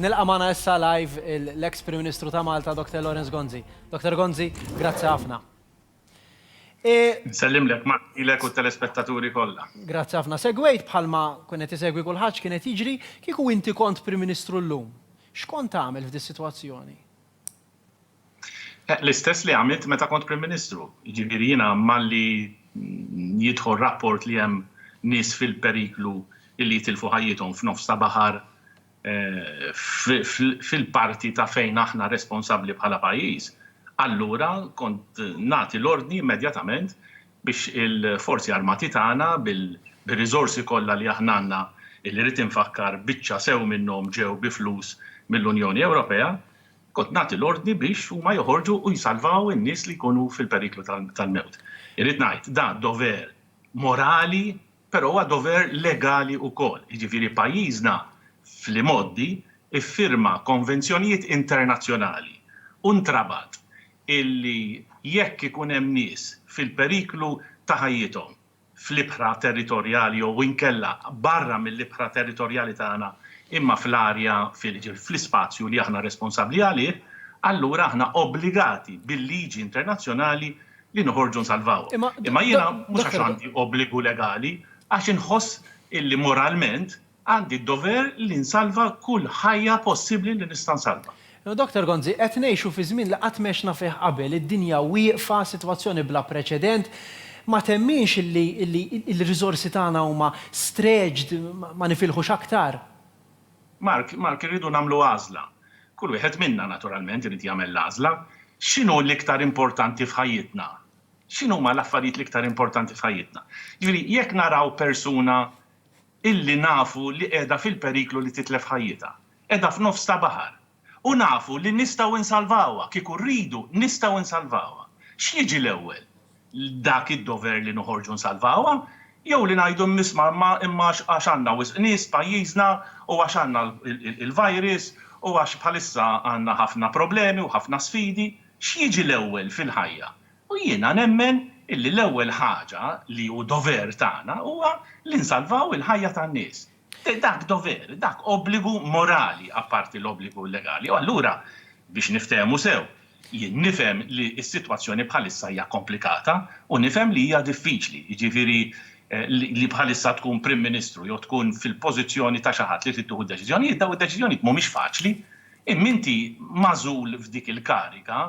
Nilqa' magħna issa live l-eks Prim Ministru ta' Malta, Dr. Lawrence Gonzi. Dr. Gonzi, grazzi ħafna. Nsellimlek, Mark, lilek u t-telespettaturi kollha. Grazzi ħafna. Segwejt bħalma kien qed isegwi kulħadd x'kien qed jiġri, kieku inti kont Prim Ministru llum, x'kont tagħmel f'dis-sitwazzjoni? L-istess li għamilt meta kont Prim Ministru. Jiġifieri jiena malli jidħol rapport li hemm nies fil-periklu li jitilfu ħajjithom f'nofs ta' baħar fil-parti ta' fejn aħna responsabbli bħala pajjiż, allura kont nagħti l-ordni immedjatament biex il-Forzi Armati tagħna bir-riżorsi kollha li aħna għandna, li rrid infakkar biċċa sew minnhom ġew bi flus mill-Unjoni Ewropea, Kont nagħti l-ordni biex huma joħorġu u jsalvaw in-nies li jkunu fil-periklu tal-mewt. Irrid ngħid, dan dover morali, però huwa dover legali wkoll. Jiġifieri pajjiżna fl-imgħoddi ffirma konvenzjonijiet internazzjonali u ntrabat illi jekk ikun hemm nies fil-periklu ta' ħajjithom, fl-ibħra territorjali jew inkella barra mill-ibħra territorjali tagħna imma fl-arja, jiġifieri fl-ispazju li aħna responsabbli għalih, allura aħna obbligati bil-liġi internazzjonali li noħorġu nsalvawhom. Imma jiena mhux għax għandi obbligu legali, għax inħoss illi moralment, Għandi d-dover li nsalva kull ħajja possibbli li nista' nsalva. Doctor Gonzi, Qed ngħixu fi żmien li qatt m'għexna fih qabel. Id-dinja wieqfa, sitwazzjoni bla preċedent. Ma temminx li l-riżorsi tagħna huma stretched, ma nifilħux aktar? Mark, Mark, irridu nagħmlu għażla. Kull wieħed minna, naturalment, irid jagħmel l-għażla. X'inhu l-iktar importanti f'ħajjitna? X'inhuma l-affarijiet l-iktar importanti f'ħajjitna? Jiġifieri, jekk naraw persuna illi nafu li qiegħda fil-periklu li titlef ħajjitha. Qiegħda f'nofs ta' baħar. U nafu li nistgħu insalvawha, kieku rridu nistgħu insalvawha. X'jiġi l-ewwel? Dak id-dover li noħorġu nsalvawha? Jew li ngħidu mmiss Mamma imma għax għax għandna wisq nies f'pajjiżna u għax għandna l-virus u għax bħalissa għandna ħafna problemi u ħafna sfidi? X'jiġi l-ewwel fil-ħajja? U jiena nemmen illi l-ewwel ħaġa li hu dover tagħna huwa li nsalvaw il-ħajja tan-nies. Dak dover, dak obbligu morali apparti l-obbligu legali. U allura, biex niftehmu sew, jien nifhem li s-sitwazzjoni bħalissa hija komplikata u nifhem li hija diffiċli, jiġifieri li bħalissa tkun Prim Ministru jew tkun fil-pożizzjoni ta' xi ħadd li trid tieħu d-deċiżjonijiet, dawn id-deċiżjonijiet mhumiex faċli, imma inti magħżul f'dik il-kariga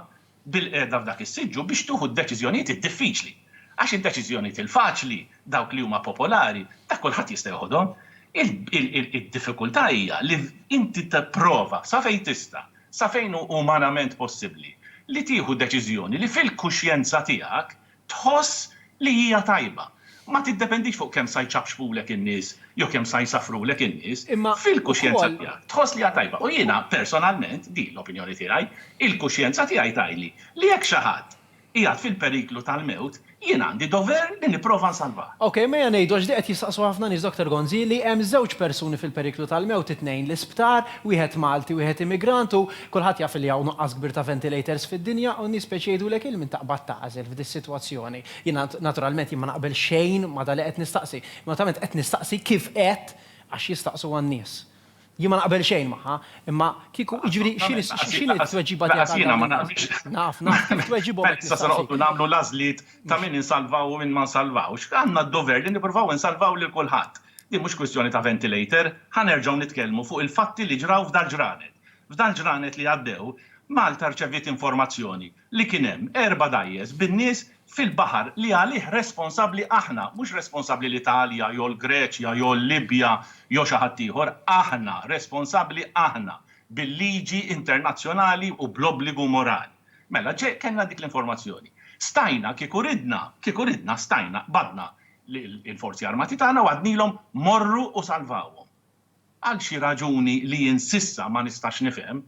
bil-qiegħda f'dak is-siġġu biex tieħu d-deċiżjonijiet id-diffiċli. Għax id-deċiżjonijiet il-faċli, dawk li huma popolari, dak kulħadd jista' jeħodhom. Id-diffikultà hija li inti tipprova, sa fejn tista', sa fejn hu umanament possibbli, li tieħu deċiżjoni li fil-kuxjenza tiegħek tħoss li hija tajba. Ma tiddependix fuq kemm sa jċapċpulek in-nies jew kemm sa jsafrulek in-nies. Fil-kuxjenza tiegħek tħoss li hija tajba. U jiena personalment, din l-opinjoni tiegħi, il-kuxjenza tiegħi tgħidli li jekk xi ħadd qiegħed fil-periklu tal-mewt, jien għandi dover li nipprova nsalvah. Ok, mejja ngħidu, għax din qed jistaqsu ħafna nies, Dottor Gonzi, li hemm żewġ persuni fil-periklu tal-mewt, it-tnejn l-isptar, wieħed Malti, wieħed immigrant u, Kulħadd jaf li hawn nuqqas kbir ta' ventilators fid-dinja u n-nies biex jgħidulek il min taqbad tagħżel f'dis-sitwazzjoni. Jiena naturalment jien ma naqbel xejn ma' dak li qed nistaqsi. Naturalment qed nistaqsi kif qed għax jistaqsuha n-nies. Jien ma naqbel xejn magħha, imma kieku, jiġifieri x'inhi x'inhi t-tweġiba tiegħek għal dawn in-nies? Naf, naf, kif tweġibhom qed nistaqsi. Peress sa se noqogħdu nagħmlu l-għażliet ta' min insalvaw u min ma nsalvawx, għandna d-dover li nippruvaw insalvaw lil kulħadd. Din mhux kwistjoni ta' ventilator. Ħa nerġgħu nitkellmu fuq il-fatti li ġraw f'dar ġranet. F'dan ġranet li għaddew, Malta rċeviet informazzjoni li kien hemm erba' dgħajjes bin-nies fil-baħar li għalih responsabbli aħna, mhux responsabbli l-Italja jew l-Greċja jew l-Libja jew xi ħadd ieħor, aħna, responsabbli aħna, bil-liġi internazzjonali u bl-obbligu morali. Mela, kellna dik l-informazzjoni. Stajna, kieku ridna, kieku ridna, stajna, qbadna lill-Forzi Armati tagħna u għednilhom morru u salvawhom. Għal xi raġuni li jien s'issa ma nistax nifhem,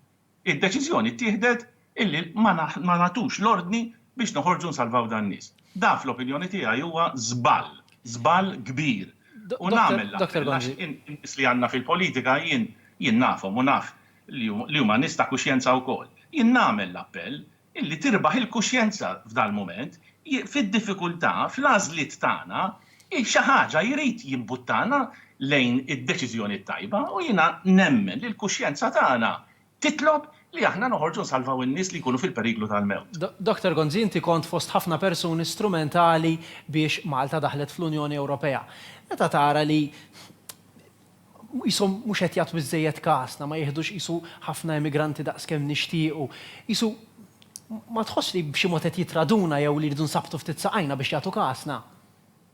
id-deċiżjoni ttieħdet illi ma nagħtux l-ordni biex noħorġu nsalvaw dan-nies. Dan fl-opinjoni tiegħi huwa żball, żball kbir. U nagħmel l-appell għax in-nies li għandna fil-politika jien nafhom u naf li huma nies ta' kuxjenza wkoll. Jien nagħmel l-appell Illi tirbaħ il-kuxjenza f'dal-mument, fid-diffikultà, fl-għażliet tagħna, hi xi ħaġa, jrid jimbuttana lejn id-deċiżjoni t-tajba u jiena nemmen li l-kuxjenza tagħna titlob li aħna noħorġu nsalvaw in-nies li jkunu fil-periklu tal-mewt. Doctor Gonzi, inti kont fost ħafna persuni strumentali biex Malta daħlet fl-Unjoni Ewropea. Meta tara li Qishom mhux qed jagħtu biżżejjed kasna, ma jiħdux qisu ħafna emigranti daqs kemm nixtiequ. Qisu ma tħossx li b'xi mod qed jitraduna jew li jridu nsabbtu ftit saqajna biex jagħtu kasna?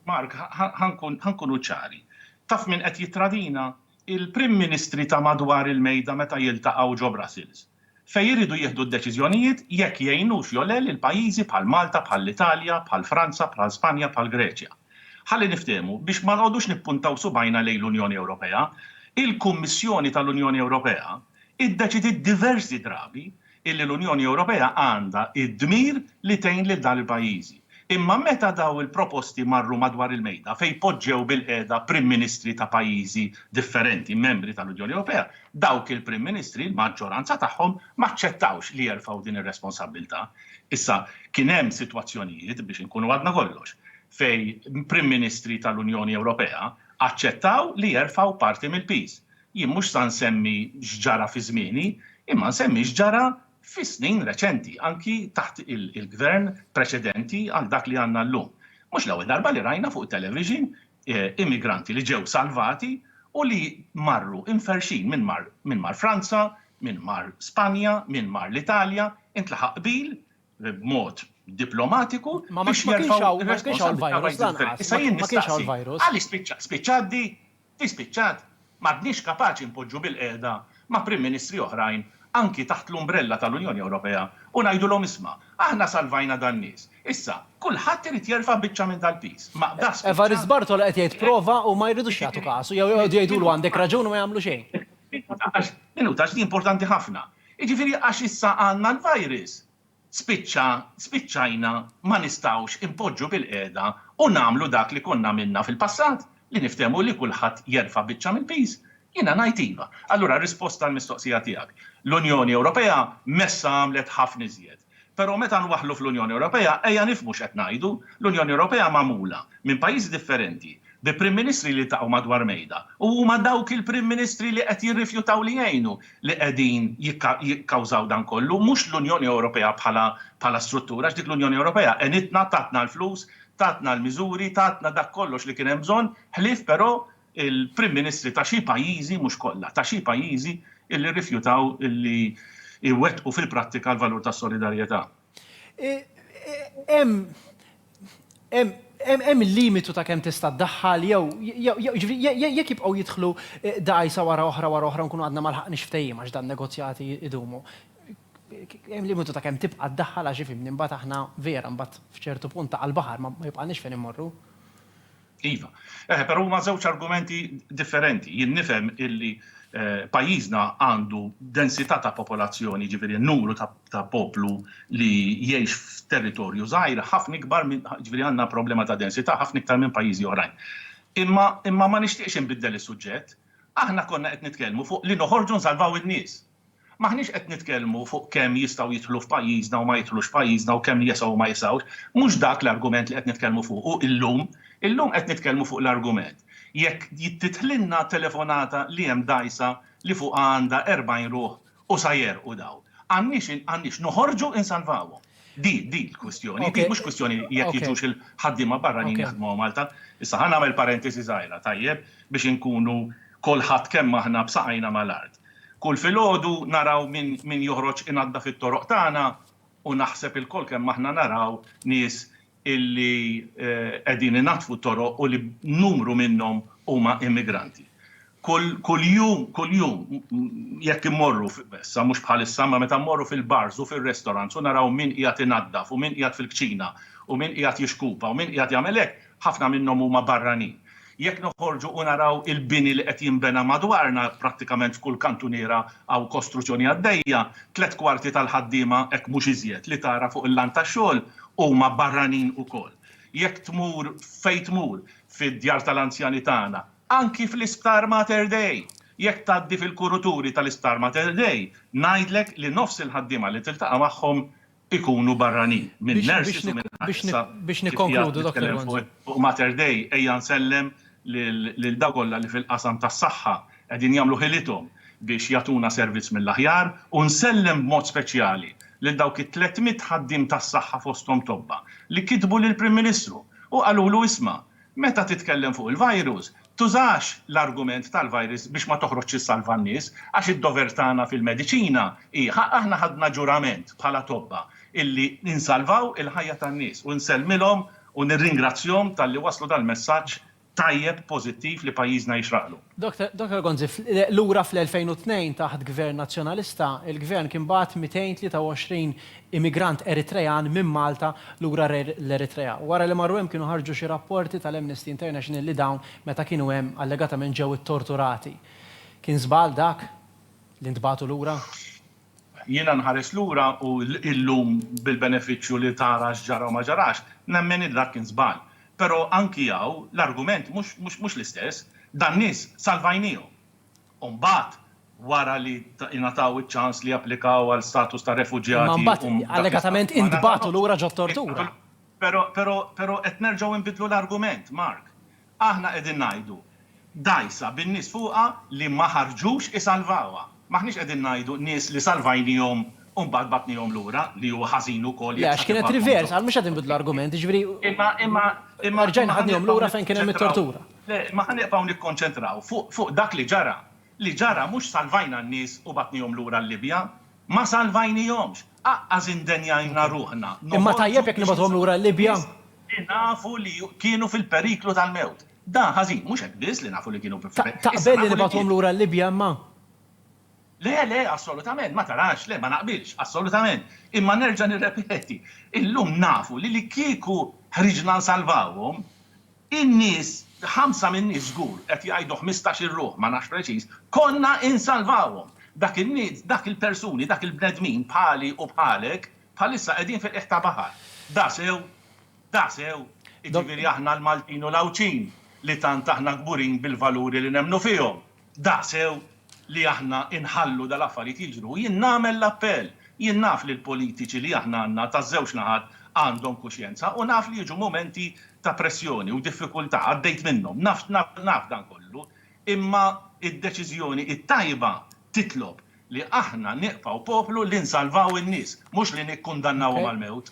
Mark, Ħa nkunu ċari. Taf min qed jittradina? Il-Prim Ministri ta' madwar il-mejda meta jiltaqgħu ġo Brussels. fejn iridu jieħdu d-deċiżjonijiet jekk jgħinux jew le lil pajjiżi bħal Malta, bħall-Italja, bħal Franza, bħal Spanja, bħal Greċja. Ħalli niftehmu, biex ma nqogħdux nippuntaw subgħajna lejn l-Unjoni Ewropea, il-Kummissjoni tal-Unjoni Ewropea iddeċidiet diversi drabi illi l-Unjoni Ewropea għandha d-dmir li tgħin lil dan il-pajjiżi. Imma meta dawn il-proposti marru madwar il-mejda fejn poġġew bilqiegħda Prim Ministri ta' pajjiżi differenti membri tal-Unjoni Ewropea, dawk il-Prim Ministri, l-maġġoranza tagħhom, ma aċċettawx li jerfgħu din ir-responsabbiltà. Issa, kien hemm sitwazzjonijiet, biex inkunu għadna kollox, fejn Prim Ministri tal-Unjoni Ewropea aċċettaw li jerfgħu parti mill-piż. Jien mhux sa nsemmi x'ġara fi żmieni, imma nsemmi x'ġara fis-snin reċenti, anki taħt il-Gvern preċedenti għal dak li għandna llum. Mhux l-ewwel darba li rajna fuq it-television immigranti li ġew salvati u li marru imferrxin, min mar min mar Franza, min mar Spanja, min mar l-Italja, intlaħaq qbil b'mod diplomatiku biex jerfgħu r-responsabbiltà pajjiżi differenti. Issa jien nistaqsi, għaliex spiċċat di? Hi spiċċat? M'għadniex kapaċi npoġġu bilqiegħda ma' Prim Ministri oħrajn, anki taħt l-umbrella tal-Unjoni Ewropea, u ngħidulhom isma', aħna salvajna dan-nies, issa kulħadd irid jerfa' biċċa minn dal-piż. Ma da spiċċat? Evarist Bartolo qed jgħid prova u ma jridux jagħtu kasu jew joqogħdu jgħidulu għandek raġun u ma jagħmlu xejn. Minuta għax, minuta għax di importanti ħafna. Jiġifieri għax issa għandna l-virus, spiċċa spiċċajna ma nistgħux inpoġġu bilqiegħda u nagħmlu dak li konna għamilna fil-passat, li niftehmu li kulħadd jerfa' biċċa mill-piż? Jiena ngħid iva. Allura risposta għall-mistoqsija tiegħek, l-Unjoni Ewropea messha għamlet ħafna iżjed. Però meta nwaħħlu fl-Unjoni Ewropea ejja nifhmu x'qed ngħidu, l-Unjoni Ewropea magħmula minn pajjiżi differenti bi Prim Ministri li jiltaqgħu madwar mejda u huma dawk il-Prim Ministri li qed jirrifjutaw li jgħinu li qegħdin jikkawżaw dan kollu, mhux l-Unjoni Ewropea bħala struttura, għax dik l-Unjoni Ewropea għenitna, tatna l-flus, tatna l-miżuri, tatna dak kollox li kien hemm bżonn, ħlief però il-Prim Ministri ta' xi pajjiżi, mhux kollha, ta' xi pajjiżi li rrifjutaw li jwettqu fil-prattika l-valur tas-solidarjetà. Hemm il-limitu ta' kemm tista' ddaħħal jew, jiġifieri, jekk jibqgħu jidħlu dgħajsa wara oħra wara oħra nkunu għadna ma lħaqniex ftehim għax dan negozjati jdumu. Hemm limitu ta' kemm tibqa' ddaħħal għax ifhimni mbagħad aħna vera mbagħad f'ċertu punt ta' għall-baħar ma jibqagħniex fejn immorru. Iva, eh, però huma żewġ argumenti differenti. Jien nifhem illi eh, pajjiżna għandu densità ta' popolazzjoni, ġifieri numru ta', ta poplu li jgħix f'territorju żgħir ħafna ikbar minn ġifieri għandna problema ta' densità ħafna iktar minn pajjiżi oħrajn. Imma imma ma nixtieqx inbiddel is-suġġett. Aħna konna qed nitkellmu fuq li noħorġu nsalvaw in-nies. M'aħniex qed nitkellmu fuq kemm jistgħu jidħlu f'pajjiżna u ma jidħlux f'pajjiżna u kemm jesgħu u ma jesgħux. Mhux dak l-argument li qed nitkellmu fuqu illum. Illum qed nitkellmu fuq l-argument jekk tidħlilna telefonata li hemm dgħajsa li fuqha għandha 40 ruħ u sa jegħrqu dawn. Għandniex noħorġu insalvawhom. Di di l-kwistjoni. Di mhux kwistjoni jekk jiġux il-ħaddiema barranin jaħdmu ma' Malta. Issa ħa nagħmel parentesi żgħira, tajjeb, biex inkunu kulħadd kemm aħna b'saqajna mal-art. Kull filgħodu naraw min min joħroġ inaddaf it-toroq tagħna u naħseb ilkoll kemm aħna naraw nies illi qegħdin inaddfu t-toroq u li numru minnhom huma immigranti. Kull kuljum kuljum jekk immorru issa mhux bħalissa imma meta mmorru fil-bars u fir-restaurants u naraw min qiegħed inaddaf u min qiegħed fil-kċina u min qiegħed jixkupa u min qiegħed jagħmel hekk Ħafna minnhom huma barranin. Jekk noħorġu u naraw il-bini li qed jinbena madwarna, prattikament f'kull kantuniera hawn kostruzzjoni għaddejja, tliet kwarti tal-ħaddiema, hekk mhux iżjed, li tara fuq il-lan tax-xogħol huma barranin ukoll. Jekk tmur fejn tmur, fid-djar tal-anzjani tagħna, anki fl-Isptar Mater Dei, jekk tgħaddi fil-kuruturi tal-Isptar Mater Dei, ngħidlek li nofs il-ħaddiema li tiltaqa' magħhom ikunu barranin minn nurses u minn ħaddiema. Biex nikkonkludu, Dottor Gonzi. Fuq Mater Dei ejja nsellem lil dawk kollha li fil-qasam tas-saħħa qegħdin jagħmlu ħilithom biex jagħtuna servizz mill-aħjar u nsellem b'mod speċjali lil dawk it-tliet mitt ħaddiem tas-saħħa fosthom tobba li kitbu lill-Prim Ministru u qalulu isma' Meta titkellem fuq il-virus, tużax l-argument tal-virus biex ma toħroġx issalva n-nies, għax id-dover tagħna fil-mediċina hi, aħna ħadna ġurament bħala tobba illi insalvaw il-ħajja tan-nies u nsellmilhom u nirringrazzjhom talli wasslu dal-messaġġ tajjeb pożittiv li pajjiżna jixraqlu. Dottor Gonzi, lura fl-2002 taħt Gvern Nazzjonalista, il-Gvern kien bagħat 223 immigrant Eritrean minn Malta lura l-Eritrea. Wara li marru hemm kienu ħarġu xi rapporti tal-Amnesty International li dawn meta kienu hemm allegatament ġew ittorturati. Kien żball dak li ntbagħtu lura? Jiena nħares lura u illum bil-benefiċċju li tara x'ġara u ma ġarax, nemmen li dak kien żball. Però anki hawn l-argument mhux l-istess. Dan-nies salvajniehom. U mbagħad wara li ingħataw iċ-ċans li japplikaw għal status ta' refuġjati u. Imma mbagħad allegatament intbagħtu lura ġot-tortura. Però qed nerġgħu nbiddlu l-argument, Mark. Aħna qegħdin ngħidu dgħajsa bin-nies fuqha li ma ħarġux isalvawha. M'aħniex qegħdin ngħidu nies li salvajniehom u mbagħad bagħtniehom lura, li huwa ħażin ukoll jekk sa tibgħathom lura. Le, għax kienet reverse, għal mhux qed inbidlu argument, jiġifieri rġajna ħadniehom lura fejn kien hemm it-tortura. Le, imma ħa nibqgħu nikkonċentraw fuq dak li ġara. Li ġara mhux salvajna n-nies u bagħtniehom lura l-Libja. Ma salvajnihomx, aqqas indenjajna ruħna noħorġu biex insalvaw in-nies li nafu li kienu fil-periklu tal-mewt. Dan ħażin, mhux hekk biss li nafu li kienu fil-periklu, issa nafu li kienu. Le, le, assolutament, ma tarax, le, ma naqbilx, assolutament. Imma nerġa' nirrepeti, illum nafu li li kieku ħriġna nsalvawhom, In-nies, ħamsa min-nies żgur, qed jgħidu ħmistax-il ruħ, ma nafx preċiż, konna insalvawhom. Dak in-nies, dak il-persuni, dak il-bnedmin bħali u bħalek, bħalissa qegħdin fil-qiegħ ta' baħar. Dasew! Dasew! Iġifieri aħna l-Maltin u l-Għawdxin, li tant aħna kburin bil-valuri li nemmnu fihom. Daqssew li aħna inħallu dal-affarijiet jiġru u jien nagħmel l-appell. Jien naf li l-politiċi li aħna għandna taż-żewġ naħat għandhom kuxjenza u naf li jiġu mumenti ta' pressjoni u diffikultà, għaddejt minnhom, naf naf dan kollu, imma d-deċiżjoni t-tajba titlob li aħna nibqgħu poplu li nsalvaw in-nies, mhux li nikkundannawhom għall-mewt.